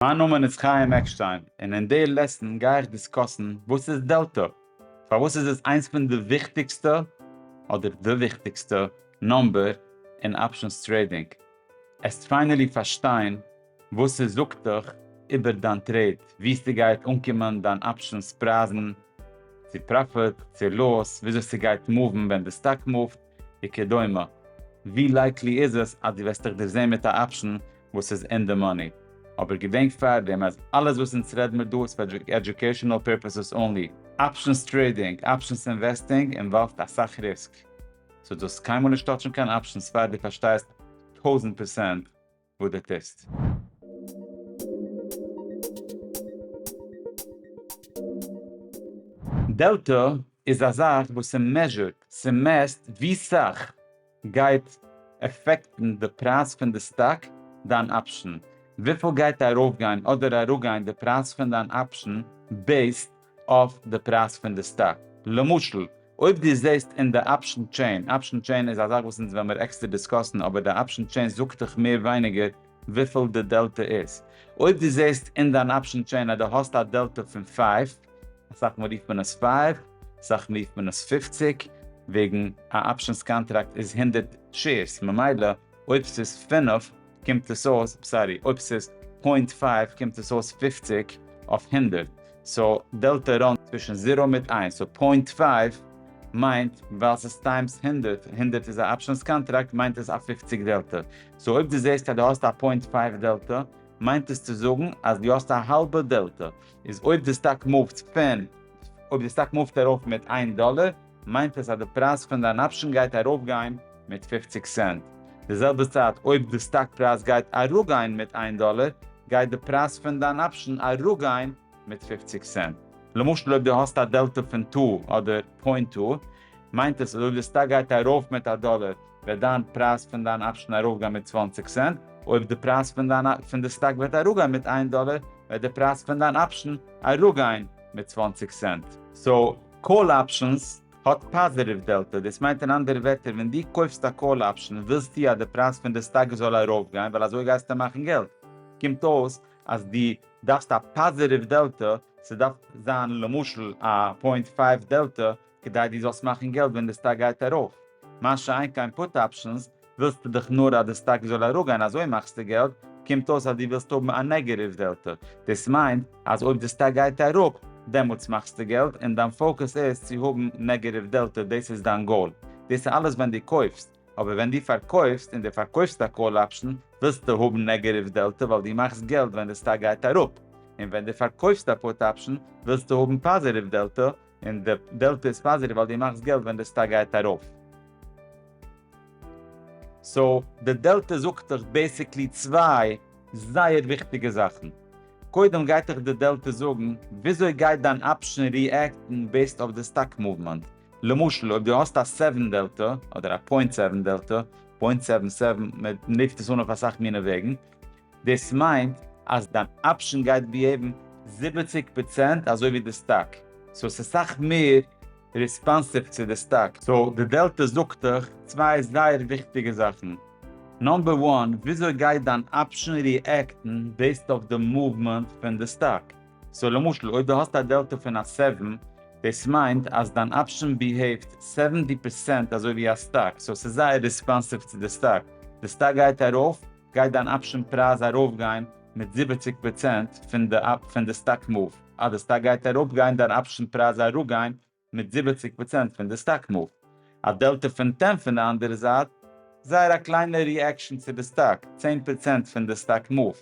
מיין נאמען איז חיים עקשטיין און אין די לעסן גיי איך דיסקאסן וואס איז דעלטא, פארוואס איז עס איינס פון די וויכטיגסטע אדער די וויכטיגסטע נומבער אין אפשענס טרעידינג, עסט פיינעלי פארשטיין וואס ס'זאגט דיך איבער דיין טרעיד, ווי ס'גייט אנקומען דיין אפשענס פרייזן, צו פראפיט צו לאס, וויאזוי ס'גייט מאוון ווען די סטאק מאווט, וכדומה, ווי לייקלי איז עס אז דו וועסט דיך דערזעהן מיט א אפשן וואס איז אין די מאני? אבער געדענק פארדעם אז אלעס וואס אונז רעד מיר דא איז פאר עדיוקעישאנעל פערפעסעס אנלי. אפשענס טרעידינג, אפשענס אינוועסטינג, אינוואלווט אסאך ריסק, סאו דו האסט קיינמאל נישט טאטשן קיין אפשענס פאר דו פארשטייסט טויזענט פערסענט וואו די טוסט. דעלטא איז א זאך וואס ס'מעזשורט, ס'מעסט ווי סאך גייט עפעקטן די פרייז פון די סטאק, דיין אפשן, וויפיל גייט ארויפגיין אדער אראפגיין די פרייז פון דיין אפשן בעיסד אויף די פרייז פון די סטאק. למשל, אויב דו זעסט אין די אפשן טשעין, אפשן טשעין איז א זאך וואס אונז וועלמיר עקסטער דיסקאסן, אבער די אפשן טשעין זאגט דיך מער ווייניגער וויפיל די דעלטע איז. אויב דו זעסט אין דיין אפשן טשעין אז דו האסט א דעלטע פון פייוו, אסאך מאל רופט מען עס פייוו, אסאך מאל רופט מען עס פופציג, וועגן א אפשנס קאנטראקט איז הונדערט שעירס, ממילא אויב ס'איז פינף, קומט עס אויס, סארי, אויב ס'איז פוינט פייוו קומט עס אויס פופציג אויף הונדערט, סאו דעלטא ראנגט צווישן זירא מיט איינס, סאו פוינט פייוו מיינט ווייל ס'איז טיימס הונדערט, הונדערט איז א אפשענס קאנטראקט מיינט עס א פופציג דעלטא, סאו אויב דו זעסט אז דו האסט א פוינט פייוו דעלטא מיינט עס צו זאגן אז דו האסט א האלבע דעלטא, איז אויב די סטאק מופט פון אויב די סטאק מופט ארויף מיט איין דאלער מיינט עס אז די פרייז פון דיין אפשן גייט ארויפגיין מיט פופציג סענט. די זעלבע צייט אויב די סטאק פרייז גייט אראפגיין מיט איין דאלער, גייט די פרייז פון דיין אפשן אראפגיין מיט פופציג סענט. למשל אויב די האסט א דעלטע פון טא אדער פוינט טא, מיינט עס אז אויב די סטאק גייט ארויף מיט א דאלער, וועט דיין פרייז פון דיין אפשן ארויפגיין מיט צוואַנציק סענט. אויב די פרייז פון דיין פון די סטאק וועט אראפגיין מיט איין דאלער, וועט די פרייז פון דיין אפשן אראפגיין מיט צוואַנציק סענט. סאו, קאל אפשענס האט פאזיטיוו דעלטא, דאס מיינט אין אנדערע ווערטער ווען דו קויפסט א קאל אפשען ווילסטו אז די פרייז פון די סטאק זאל ארויפגיין ווייל אזוי גייסטו מאכן געלט, קומט אויס אז דו דארפסט א פאזיטיוו דעלטא, ס'דארף זיין למשל א פוינט פייוו דעלטא כדי דו זאלסט מאכן געלט ווען די סטאק גייט ארויף, מה שאין כן פוט אפשענס ווילסט דאך נאר אז די סטאק זאל אראפגיין אזוי מאכסטו געלט, קומט אויס אז דו ווילסט האבן א נעגעטיוו דעלטע, דאס מיינט אז אויב די סטאק גייט אראפ דעמאלטס מאכסטו געלט און דיין פאוקוס איז צו האבן נעגעטיוו דעלטע דאס איז דיין גאול, דאס איז אלעס ווען דו קויפסט, אבער ווען דו פארקויפסט און דו פארקויפסט א קאל אפשן ווילסטו האבן נעגעטיוו דעלטע ווייל דו מאכסט געלט ווען די סטאק גייט אראפ, און ווען דו פארקויפסט א פוט אפשן ווילסטו האבן פאזיטיוו דעלטע און די דעלטע איז פאזיטיוו ווייל דו מאכסט געלט ווען די סטאק גייט ארויף. סאו די דעלטע זאגט דיך בעסיקלי צוויי זייער וויכטיגע זאכן. קודם גייט דיך די דעלטע זאגן וויאזוי גייט דיין אפשן ריעקטן בעיסד אויף די סטאק מאוומענט. למשל אויב דו האסט א סעווען דעלטע, אדער א פוינט סעווען דעלטע, פוינט סעווען סעווען, מען רופט עס אן אויף אסאך מיני וועגן, דאס מיינט אז דיין אפשען גייט ביהעיוון זיבעציק פראצענט אזוי ווי די סטאק, סאו עס איז סאך מער ריספאנסיוו צו די סטאק. סאו די דעלטא זאגט דיך צוויי זייער וויכטיגע זאכן, נאמבער וואן, וויאזוי גייט דיין אפשען ריעקטן בעיסד אויף די מאוומענט פון די סטאק, סאו למשל אויב דו האסט א דעלטא פון א סעווען, דאס מיינט אז דיין אפשען ביהעיווט סעווענטי פראצענט אזוי ווי א סטאק, סאו עס איז זייער ריספאנסיוו צו די סטאק, די סטאק גייט ארויף, גייט דיין אפשען פרייז ארויפגיין מיט זיבעציק פראצענט פון די פון די סטאק מאוו. אז די סטאק גייט אראפ גייט דיין אפשען פרייז אראפגיין מיט זיבעציק פראצענט פון די סטאק מאוו. א דעלטע פון טען פון די אנדערע זייט זייער א קליינע ריעקשען צו די סטאק, צען פראצענט פון די סטאק מאוו,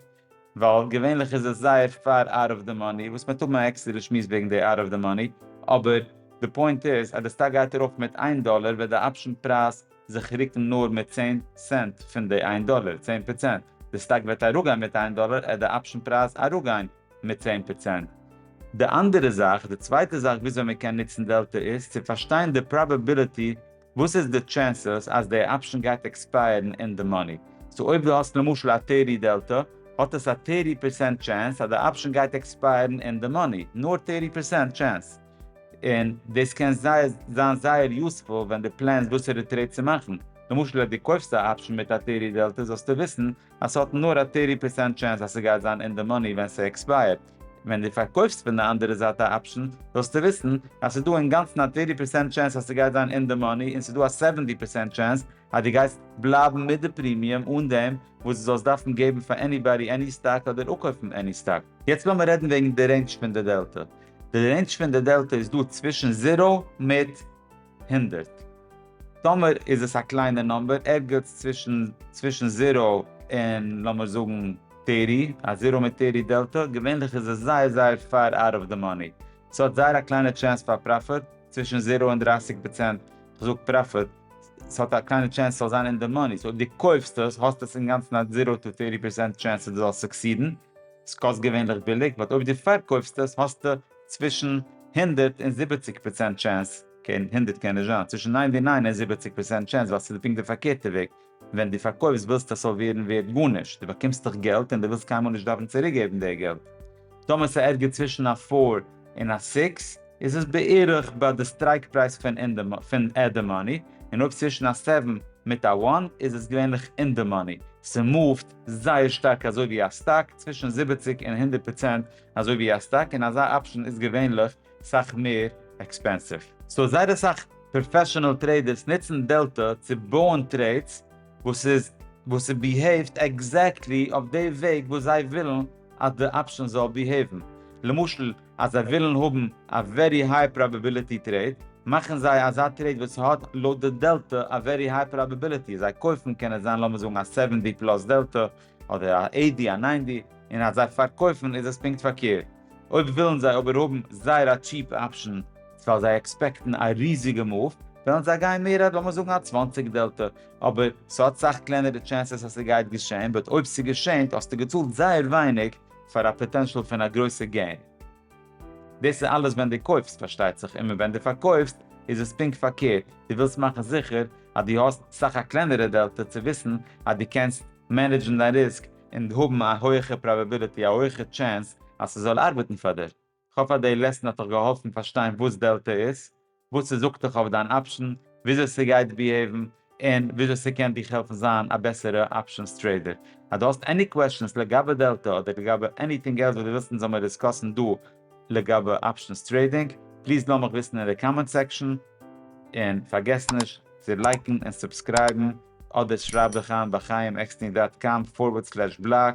ווייל געווענליך איז עס זייער פאר אוט אוו די מאני, וואס מען וועט האבן א עקסטערע שמועס וועגן די אוט אוו די מאני, אבער די פוינט איז אז די סטאק גייט ארויף מיט איין דאלער וועט די אפשען פרייז זיך רוקן נאר מיט צען סענט פון די איין דאלער, צען פראצענט, די סטאק וועט אראפגיין מיט איין דאלער עט די אפשן פרייז אראפגיין מיט צען פראצענט. די אנדערע זאך, די צווייטע זאך וויאזוי מען קען נוצן דעלטע איז צו פארשטיין די פראבעביליטי, וואס איז די טשענסעס אז די אפשן גייט עקספייערן אין די מאני. סאו אויב דו האסט למשל א טערטי דעלטע, האט עס א טערטי פערסענט טשענס אז די אפשן גייט עקספייערן אין די מאני, נאר טערטי פערסענט טשענס. און דאס קען זיין זייער יוספול ווען דו פלענסט וואסערע טרעיד צו מאכן, למשל אז דו קויפסט א אפשן מיט א טערי דעלטע זאלסטו וויסן אז ס'האט נאר א טערטי פערסענט טשענס אז ס'גייט זיין אין די מאני ווען ס'עקספייערט, ווען דו פארקויפסט פון די אנדערע זייט א אפשן זאלסטו וויסן אז ס'דא אינגאנצן א טערטי פערסענט טשענס אז ס'גייט זיין אין די מאני און ס'דא א סעווענטי פערסענט טשענס אז דו גייסט בלייבן מיט די פרימיום אן דעם וואס דו זאלסט דארפן געבן פאר עניבאדי עני סטאק אדער אפקויפן עני סטאק. יעצט לאמיר רעדן וועגן די רעינדזש פון די דעלטע. די רעינדזש פון די דעלטא איז דא צווישן זירא מיט הונדערט. טאמער איז עס א קליינער נאמבער ערגעץ צווישן צווישן זירא און לאמיר זאגן טערטי, א זירא מיט טערטי דעלטא, געווענליך איז עס זייער זייער פאר אוט אוו די מאני. ס'האט זייער א קליינע טשענס פאר פראפיט, צווישן זירא און דרייסיג פראצענט, כ'זאג פראפיט, ס'האט א קליינע טשענס ס'זאל זיין אין די מאני, סאו אויב דו קויפסט עס האסטו עס אינגאנצן א זירא טו טערטי פערסענט טשענס אז דו זאלסט סוקסידן. סקאסט געווענליך ביליג באט אויב דו פארקויפסט עס האסטו צווישן הונדערט און זיבעציק פראצענט טשענס, אקעי הונדערט קען נישט זיין, צווישן ניינטי ניין און זיבעציק פראצענט טשענס ווייל סאיז פונקט די פארקערטע וועג, ווען דו פארקויפסט ווילסטו עס זאל ווערן ווערט גארנישט, דו באקומסט דאך געלט און דו ווילסט קיינמאל נישט דארפן צוריקגעבן די געלט. טאמער סאיז ערגעץ צווישן א פאר און א סיקס איז עס בערך ביי די סטרייק פרייז פון אין די די מאני, און אויב צווישן א סעווען מיט א וואן איז עס געווענליך אין די מאני, סמופט זייער שטארק אזוי ווי א סטאק, צווישן זיבעציק און הונדערט פראצענט אזוי ווי א סטאק, און אזא אפשן איז געווענליך סאך מער עקספענסיוו. סאו זייער אסאך פראפעשענעל טרעידערס נוצן דעלטא צו בויען טרעידס וואס איז וואס ס'ביהעיווט עקזעקטלי אויף די וועג וואס זיי ווילן, אז די אפשען זאל ביהעיוון למשל אז זיי ווילן האבן א ווערי היי פראבעביליטי טרעיד, מאכן זיי אזא טרעיד וואס האט לויט די דעלטע א ווערי היי פראבעביליטי, זיי קויפן קען עס זיין לאמיר זאגן א סעווען די פלאס דעלטע, אדער א עיט די א ניין די, און אז זיי פארקויפן איז עס פונקט פארקערט. אויב ווילן זיי אבער האבן זייער א טשיעפ אפשען ווייל זיי עקספעקטן א ריזיגע מאוו, וועלן זיי גיין מער אז לאמיר זאגן א צוואַנציק דעלטע, אבער ס'האט סאך קלענערע טשענסעס אז ס'גייט געשען, בעת אויב ס'געשענט האסטו געצאלט זייער ווייניג פאר א פאטענשאל פון א גרויסע געין. דאס איז אלעס ווען דו קויפסט פארשטייט זיך, און ווען דו פארקויפסט איז עס פונקט פארקערט, דו ווילסט מאכן זיכער אז דו האסט סאך א קלענערע דעלטא צו וויסן אז דו קענסט מענעדזשן דיין ריסק און האבן א הויעכע פראבעביליטי, א הויעכע טשענס אז ס'זאל ארבעטן פאר דיר. כ'האף אז די לעסן האט דיך געהאלפן פארשטיין וואס דעלטע איז, וואס ס'זאגט דיך אויף דיין אפשן, וויאזוי ס'גייט ביהעיוון, און וויאזוי ס'קען דיך העלפן זיין א בעסערע אפשענס טרעידער. אז דו האסט עני קוועשאנס לגבי דעלטע אדער לגבי עניטינג עלס וואס דו ווילסט אונז זאל מיר דיסקאסן דא לגבי אפשענס טרעידינג, פליז לאז מיך וויסן אין די קאמענט סעקשאן, און פארגעס נישט צו לייקן און סובסקרייבן, אדער שרייב דיך איין ביי חייםעקסטינג דאט קאם פארווערד סלעש בלאג.